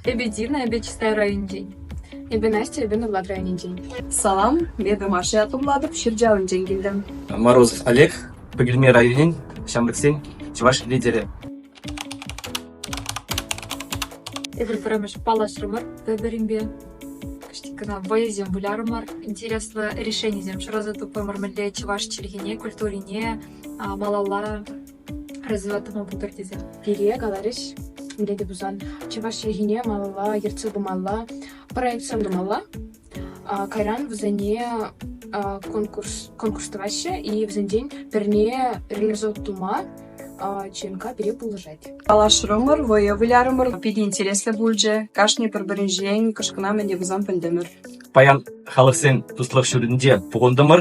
Эпӗ Дивна, эпӗ Чистай районӗнчен. Эпӗ Настя, эпӗ Нурлат районӗнчен. Салам, эпӗ Маша Ятумлатов Ҫырчалӑнчен килтӗм. Мороз Олег, Пӗкӗлме районӗн ҫамрӑксен чӑваш лидерӗ. Эпир пӗрремӗш паллашрӑмӑр пӗр-пӗринпе. Кӑштик кӑна вӑйӑсем вылярӑмӑр, интереслӗ решенисем шыраса тупрӑмӑр мӗнле чӑваш чӗлхине, культурине малалла Развивать тӑма пултӑр тесе пире каларӗҫ. Пире те тусан чӑваш чӗлхине малалла ертсе пымалла, проектсем тумалла. Кайран вӗсене конкурс конкурс тӑваҫҫӗ и вӗсенчен пӗрне реализовать тума ЧНК пире пулӑшать. Паллашрӑмӑр, вӑйӑ вылярӑмӑр. Питӗ интереслӗ пулчӗ. Кашни пӗр-пӗринчен кӑшкӑна мӗн те пулсан пӗлтӗмӗр. Паян халӑхсен туслӑх ҫуртӗнче пухӑнтӑмӑр.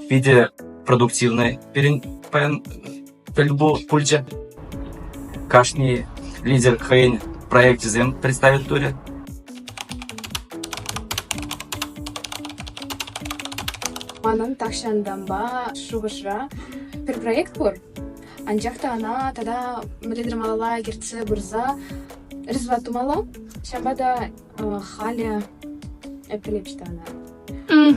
питӗ продуктивнӑй пирӗн паян тӗлпулу пулчӗ. Кашни лидер хӑйӗн проекчӗсем представит турӗ. Манӑн тахҫантанпа шухӑшра пӗр проект пур, анчах та ӑна тата мӗнле тӑвмалла ертсе пырса результат тумалла. Ҫавӑнпа та халӗ пӗлепҫ та ӑна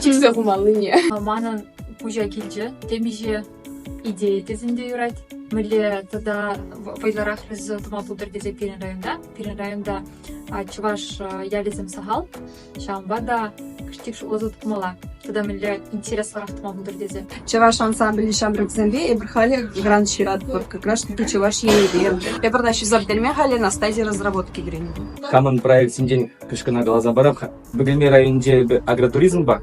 чиксе хумаллине манӑн пуҫа килчӗ темиҫе идея тесен те юрать мӗнле тата вӑйлӑрах резо тума пултӑр тесе пирӗн районта пирӗн районта чӑваш ялӗсем сахал ҫавӑнпа та кӑштах шутласа тупмалла тата мӗнле интереслӗрах тума пултӑр тесе. Чӑваш ансамблӗ ҫамрӑксемпе эпир халӗ грант ҫыратпӑр. Как раз таки Чӑваш Енӗпе. Эпир та ҫӗсӗрттерме халӗ Настасья разработки кӗренӗ. Хамӑн проектсенчен кӑшкӑна каласа парап. Бөгелмей районӗнче эпир агротуризмпа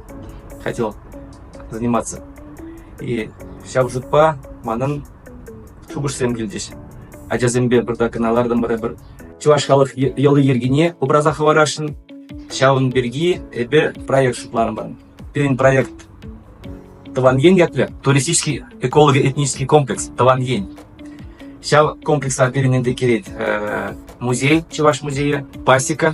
хотел заниматься. И ҫав шутпа манӑн шухӑшсем килчӗҫ. Ачасемпе пӗртак кӑна лартӑмӑр эпир чӑваш халӑх йӑли-йӗркине упраса хӑварасшӑн. Ҫавӑн пирки эпир проект шутланӑ. Пирӗн проект Тӑван ен ятлӑ туристический эколого-этнический комплекс Тӑван ен. Ҫав комплекса пирӗн ӗнтӗ килет музей, Чӑваш музейӗ, Пасека,